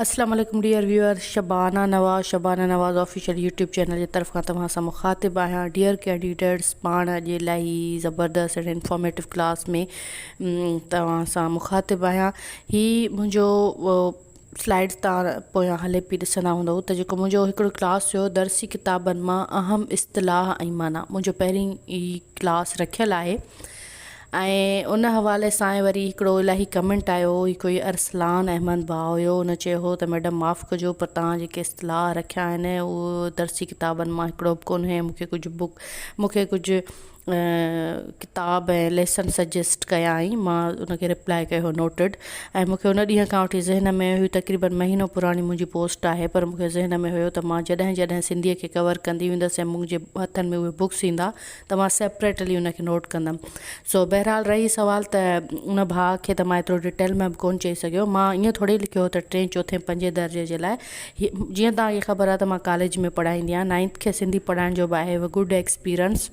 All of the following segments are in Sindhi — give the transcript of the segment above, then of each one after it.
اسلام عليڪم dear viewers Shabana Nawaz Shabana Nawaz official YouTube channel جي طرف کان توهان سان مخاطب آهيان ڊيئر ڪينڊيڊيٽس پاڻ اڄ الائي زبردست اينڊ انفارميٽو ڪلاس ۾ توهان سان مخاطب آهيان هي منهنجو سلائيڊز تان پويان هلي پي ڏسندا هوندو ته جيڪو منهنجو هڪڙو ڪلاس هيو درسي ڪتابن مان اهم اصطلاح ۽ معنيٰ منهنجو پهرين ئي ڪلاس رکيل آهي ۽ ان حوالي سان وري هڪڙو الاهي ڪمينٽ آيو هو هي ڪوئي ارسلان احمد ڀاء هيو ان چيو هو ته ميڊم معاف ڪجو پر توهان جيڪي اصطلاح رکيا آهن اهو درسي ڪتابن مان هڪڙو به ڪونهي مون کي ڪجهه بڪ مون کي ڪجهه ڪتاب ۽ ليسن سجيسٽ ڪيائين مان ان کي ريپلاء ڪيو نوٽيڊ ۽ مون کي ان ڏينهن کان وٺي ذهن ۾ هيو تقريبن مهينو پراڻي منهنجي پوسٽ آهي پر مون کي ذهن ۾ هيو ته مان جڏهن جڏهن سنڌي کي ڪور ڪندي ويندس ۽ منهنجي هٿن ۾ اهي بڪس ايندا ته مان سيپريٽلي ان کي نوٽ ڪندم. سو بهرحال رهي سوال ته ان ڀاء کي ته مان ايترو ڊيٽيل ۾ به ڪونه چئي سگهيو. مان ائين ٿوري لکيو هو ته ٽين چوٿين پنجين درجي جي لاء هي جيئن توهان کي خبر آهي ته مان ڪاليج ۾ پڙهائيندي آهيان نائنٿ کي سنڌي پڙهائڻ جو به آهي اهو good experience.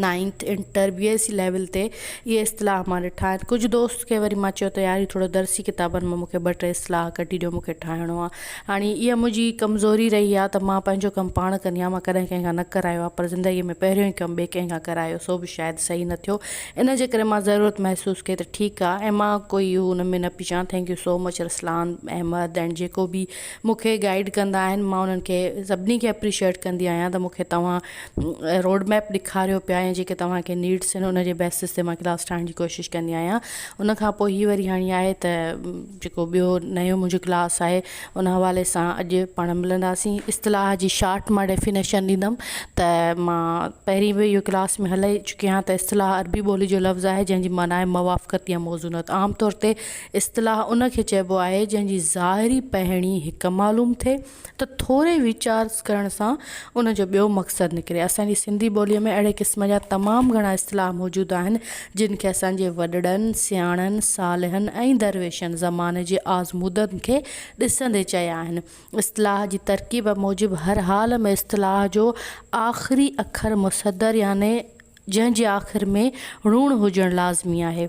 Ninth inter B S C level تي اهي اصطلاح مان ڏٺا آهن. ڪجهه دوست کي وري مان چيو ته يار هي ٿورو درسي ڪتابن مان مون کي ٻه ٽي اصطلاح ڪڍي ڏيو مون کي ٺاهڻو آهي. هاڻي اها منهنجي ڪمزوري رهي آهي ته مان پنهنجو ڪم پاڻ ڪندي آهيان، مان ڪڏهن ڪنهن کان نه ڪرايو آهي، پر زندگيء ۾ پهريون ئي ڪم ٻئي ڪنهن کان ڪرايو، سو به شايد صحيح نه ٿيو، ان جي ڪري مان ضرورت محسوس ڪئي ته ٺيڪ آهي ۽ مان ڪوئي اهو ان ۾ نه پئي چوان، thank you so much Ruslan, Ahmed ۽ جيڪو به مون کي گائيڊ ڪندا آهن، مان انهن کي سڀني کي اپريشيئيٽ ڪندي آهيان ته مون کي توهان روڊ ميپ ڏيکاريو پيا ۽ جيڪي توهان کي نيڊس آهن ان جي بيسس تي مان ڪلاس ٺاهڻ جي ڪوشش ڪندي آهيان، ان کان پوء هي وري هاڻي آهي ته. جيڪو ٻيو نيون منهنجو ڪلاس آهي ان حوالي سان اڄ پاڻ ملنداسين اصطلاح جي شارٽ مان ڊيفينيشن ڏيندم ته مان پهرين به اهو ڪلاس ۾ هلائي چڪي آهيان ته اصطلاح عربي ٻولي جو لفظ آهي جنهنجي معنيٰ آهي موافقت يا موزونت عام طور تي اصطلاح ان کي چئبو آهي جنهنجي ظاهري پهڻي هڪ معلوم ٿئي ته ٿوري ويچار ڪرڻ سان ان جو ٻيو مقصد نڪري. اسان جي سنڌي ٻوليء ۾ اهڙي قسم جا تمام گهڻا اصطلاح موجود آهن، جن کي اسان جي وڏڙن، سياڻن، صالحن ۽ درويشن زماني جي آزمودن کي ڏسندي چيا آهن. اصطلاح جي ترڪيب موجب هر حال ۾ اصطلاح جو آخري اکر مصدر يعني جنهن جي آخر ۾ ڻوڻ هجڻ لازمي آهي.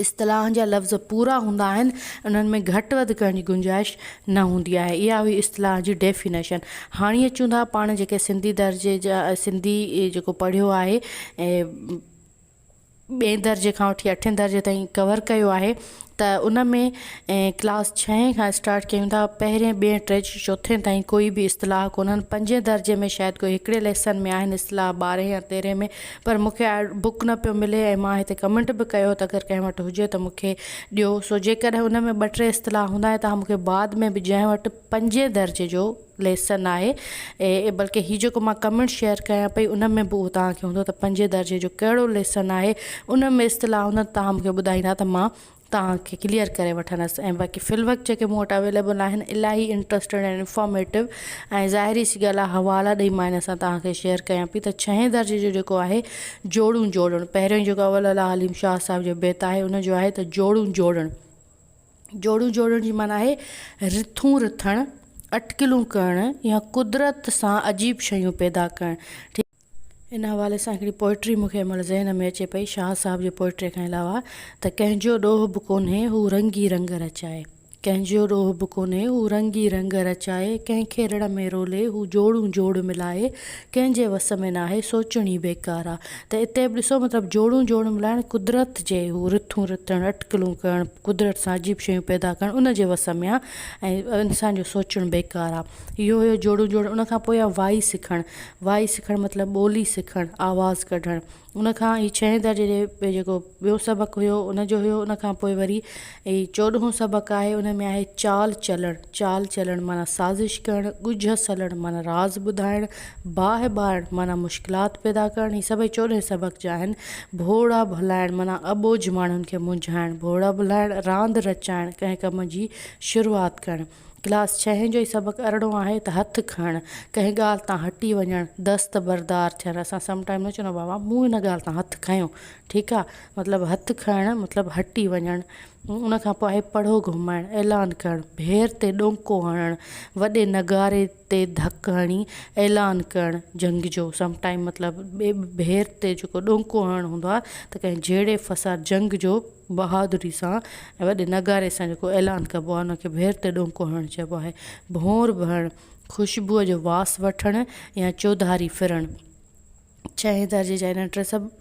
اصطلاحن جا لفظ پورا هوندا آهن، انهن ۾ گهٽ وڌ ڪرڻ جي گنجائش نه هوندي آهي. اها هئي اصطلاح جي ڊيفينيشن. هاڻي اچون ٿا پاڻ جيڪي سنڌي درجي جا سنڌي جيڪو پڙهيو آهي ۽ ٻئين درجي کان وٺي اٺين درجي تائين ڪور ڪيو آهي ته ان ۾ ڪلاس ڇهين کان اسٽارٽ ڪيون ٿا پهرين ٻئين ٽي چوٿين تائين ڪوئي بي اصطلاح ڪونهن پنجين درجي ۾ شايد ڪوئي هڪڙي ليسن ۾ آهن اصطلاح ٻارهين يا تيرهين ۾ پر مون کي آڊيو بوڪ نه پيو ملي ۽ مان هتي ڪمينٽ به ڪيو ته اگر ڪنهن وٽ هجي ته مون کي ڏيو سو جيڪڏهن ان ۾ ٻه ٽي اصطلاح هوندا ۽ تهان مون کي بعد ۾ به جنهن وٽ پنجين درجي جو ليسن آهي ۽ بلڪه هي جيڪو مان ڪمينٽ شيئر ڪيان پئي ان ۾ به اهو تهان کي هوندو ته پنجين درجي جو ڪهڙو ليسن آهي ان ۾ اصطلاح هوندن تهان مون کي ٻڌائيندا ته مان توهان کي ڪليئر ڪري وٺندس ۽ باقي في الوقت جيڪي مون وٽ اويليبل آهن الاهي انٽرسٽيڊ ۽ انفارميٽو ۽ ظاهري سي ڳالهه آهي حوالا ڏئي مان ان سان توهان کي شيئر ڪيان پي ته ڇهين درجي جو جيڪو آهي جوڙون جوڙڻ پهريون جيڪو اول الله حليم شاهه صاحب جو بيت آهي ان جو آهي ته جوڙون جوڙڻ جوڙون جوڙڻ جي معنيٰ آهي رٿون رٿڻ اٽڪلون ڪرڻ يا قدرت سان عجيب شيون پيدا ڪرڻ ان حوالي سان هڪڙي پوئٽري مون کي هن مهل ذهن ۾ اچي پئي شاهه صاحب جي پوئٽريء کان علاوه ته ڪنهن جو ڏوهه به ڪونهي هو رنگ ئي رنگ رچائي ڪنهن جو ڏوهه به ڪونهي هو رنگ ئي رنگ رچائي ڪنهن کي رڙ ۾ رولي هو جوڙون جوڙ ملائي ڪنهن جي وس ۾ ناهي سوچڻ ئي بيڪار آ ته اتي به ڏسو مطلب جوڙون جوڙ ملائڻ قدرت جي هو رٿون رٿڻ اٽڪلون ڪرڻ قدرت سان عجيب شيون پيدا ڪرڻ ان جي وس ۾ آ ۽ انسان جو سوچڻ بيڪار آ اهو هيو جوڙون جوڙ ان کان پوء آ وائي سکڻ وائي سکڻ مطلب ٻولي سکڻ، آواز ڪڍڻ. ان کان هي ڇهين درجي جي جيڪو ٻيو سبق هيو ان جو هيو ان کان پوء وري هي چوڏهون سبق آهي ان ۾ آهي چال چلڻ، چال چلڻ معنيٰ سازش ڪرڻ، ڳجهه سلڻ معنيٰ راز ٻڌائڻ، باهه ٻارڻ معنيٰ مشڪلات پيدا ڪرڻ هي سڀئي چوڏهين سبق جا آهن. ڀوڙا ڀلائڻ معنيٰ اٻوجهه ماڻهن کي منجهائڻ، ڀوڙا ڀلائڻ راند رچائڻ ڪنهن ڪم جي شروعات ڪرڻ. ڪلاس ڇهين جو هي سبق ارڙهون آهي ته هٿ کڻڻ، ڪنهن ڳالهه تان هٽي وڃڻ، دست بردار ٿيڻ اسان سم ٽائيم نه چوندا بابا مون هن ڳالهه تان هٿ کنيو ٺيڪ آ مطلب هٿ کڻڻ مطلب هٽي وڃڻ ان کان پوء آهي پڙهو گهمائڻ اعلان ڪرڻ ڀير تي ڏونڪو هڻڻ وڏي نغاري تي ڌڪ هڻي اعلان ڪرڻ جنگ جو سم ٽائيم مطلب ڀير تي جيڪو ڏونڪو هڻڻ هوندو آ ته ڪنهن جهيڙي فساد جنگ جو بهادري سان ۽ وڏي نغاري سان جيڪو اعلان ڪبو آهي ان کي ڀير تي ڏونڪو هڻڻ چئبو آهي. ڀونر ڀرڻ، خوشبوء جو واس وٺڻ يا چوڌاري ڦرڻ. ڇهين درجي جا هن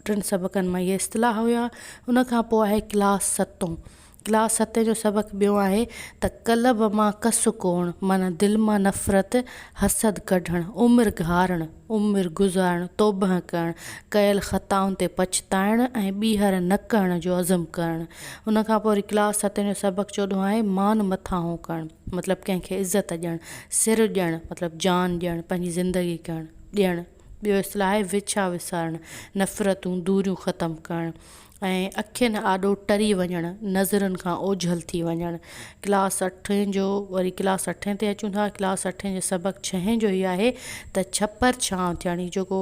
ٽن سبقن مان اهي اصطلاح هيا. ان کان پوء آهي ڪلاس ستون. ڪلاس ستين جو سبق ٻيو آهي ته قلب مان ڪس ڪوڙڻ معنيٰ دل مان نفرت، حسد ڪڍڻ، عمر گهارڻ. عمر گذارڻ، توبهه ڪرڻ، ڪيل خطائن تي پڇتائڻ ۽ ٻيهر نه ڪرڻ جو عزم ڪرڻ. ان کان پوء وري ڪلاس ستين جو سبق چوڏهون آهي، مان مٿاهون ڪرڻ مطلب ڪنهن کي عزت ڏيڻ، سر ڏيڻ مطلب جان ڏيڻ، پنهنجي زندگي ڪرڻ، ڏيڻ. ٻيو اصطلاح آهي وڇا وسارڻ، نفرتون، دوريون ختم ڪرڻ. ۽ اکين آڏو ٽري وڃڻ، نظرن کان اوجهل ٿي وڃڻ. ڪلاس اٺين جو وري ڪلاس اٺين تي اچون ٿا. ڪلاس اٺين جو سبق ڇهين جو هي آهي ته ڇپر ڇانو ٿيڻ جيڪو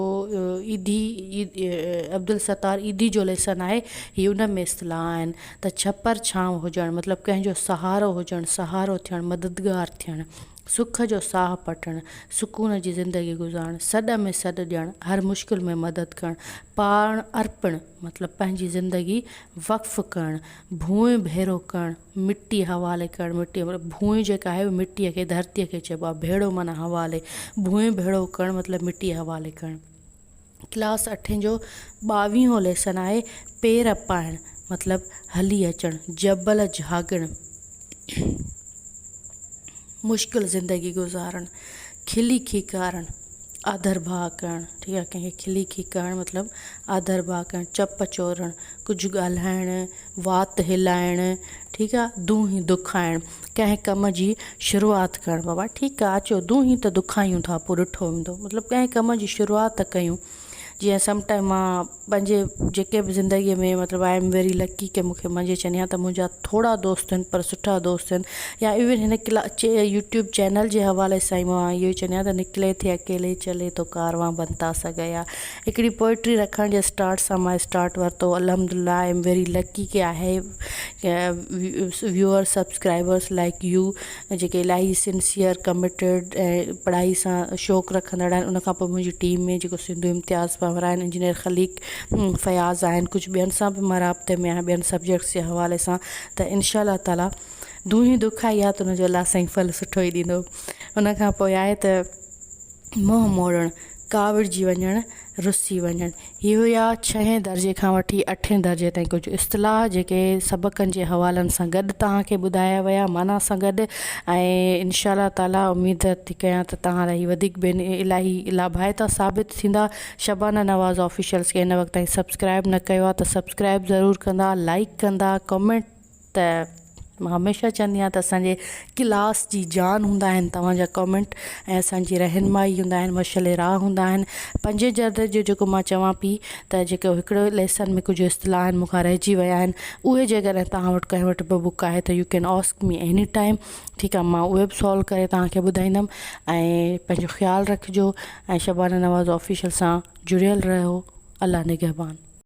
عيدي عبدالستار عيدي جو ليسن آهي هي ان ۾ اصطلاح آهن ته ڇپر ڇانو هجڻ مطلب ڪنهن جو سهارو هجڻ سهارو ٿيڻ مددگار ٿيڻ سک جو ساهه پٽڻ سڪون جي زندگي گذارڻ سڏ ۾ سڏ ڏيڻ هر مشڪل ۾ مدد ڪرڻ پاڻ ارپڻ مطلب پنهنجي زندگي وقف ڪرڻ، ڀونء ڀيرو ڪرڻ، مٽي حوالي ڪرڻ، مٽي مطلب ڀونء جيڪا آهي اهو مٽي کي ڌرتي کي چئبو آهي، ڀيڙو معنيٰ حوالي، ڀونء ڀيڙو ڪرڻ مطلب مٽي حوالي ڪرڻ. ڪلاس اٺين جو ٻاويهون ليسن آهي پير پائڻ مطلب هلي اچڻ، جبل جهاڳڻ، مشڪل زندگي گذارڻ، کلي کيڪارڻ. آڌر ڀاء ڪرڻ، ٺيڪ آهي، ڪنهن کي کلي کي ڪرڻ مطلب آڌر ڀاء ڪرڻ، چپ چورڻ، ڪجهه ڳالهائڻ، وات هلائڻ، ٺيڪ آهي، دونهين دکائڻ، ڪنهن ڪم جي شروعات ڪرڻ، بابا ٺيڪ آهي اچو دونهين ته دکايون ٿا پوء ڏٺو ويندو مطلب ڪنهن ڪم جي شروعات ته ڪيون جيئن سم ٽائيم مان پنهنجي جيڪي به زندگيء ۾ مطلب آء ايم ويري لڪي ڪي مون کي منهنجي چئني ها ته منهنجا ٿورا دوست آهن پر سٺا دوست آهن يا ايون هن ڪلا چي يوٽيوب چينل جي حوالي سان مون هاڻي اهو ئي چئني ها ته نڪلي ٿي اڪيلي چلي تو ڪاروان بنتا سا گيا هڪڙي پوئٽري رکڻ جي اسٽارٽ سان ماء اسٽارٽ ورتو الحمد لله آء ايم ويري لڪي ڪي I have viewers subscribers like you جيڪي الاهي سنسيئر ڪمٽيڊ ۽ پڙهائي سان شوق رکندڙ آهن ان کان پوء منهنجي ٽيم ۾ جيڪو سنڌو امتياز پنور آهن انجنيئر خليق فياض آهن ڪجهه ٻين سان به مان رابطي ۾ آهيان ٻين سبجيڪٽس جي حوالي سان ته انشاء الله تعالي دونهين دک آئي آ ته ان جو الله سائين ڦل سٺو ئي ڏيندو ان کان پوء آهي ته منهن موڙڻ ڪاوڙجي وڃڻ، رسي وڃڻ، هي هيا ڇهين درجي کان وٺي اٺين درجي تائين ڪجهه اصطلاح جيڪي سبقن جي حوالن سان گڏ توهان کي ٻڌايا ويا معنيٰ سان گڏ ۽ ان شاء الله تعاليٰ اميد ٿي ڪيان ته توهان لاء هي وڌيڪ بين الاهي لاڀائتا ثابت ٿيندا شبانه نواز آفيشلز کي هن وقت تائين سبسڪرائب نه ڪيو آهي ته سبسڪرائب ضرور ڪندا لائڪ ڪندا ڪمينٽ ته مان هميشه چوندي آهيان ته اسانجي ڪلاس جي جان هوندا آهن توهانجا ڪمينٽ ۽ اسانجي رهنمائي هوندا آهن مشعل راهه هوندا آهن پنجين جلدن جو جيڪو مان چوان پي ته جيڪو هڪڙو ليسن ۾ ڪجهه اصطلاح آهن مونکان رهجي ويا آهن اهي جيڪڏهن توهان وٽ ڪنهن وٽ به بڪ آهي ته you can ask me any time ٺيڪ آهي مان اهي به سالو ڪري توهانکي ٻڌائيندم ۽ پنهنجو خيال رکجو ۽ شبانه نواز آفيشل سان جڙيل رهيو الله نگهبان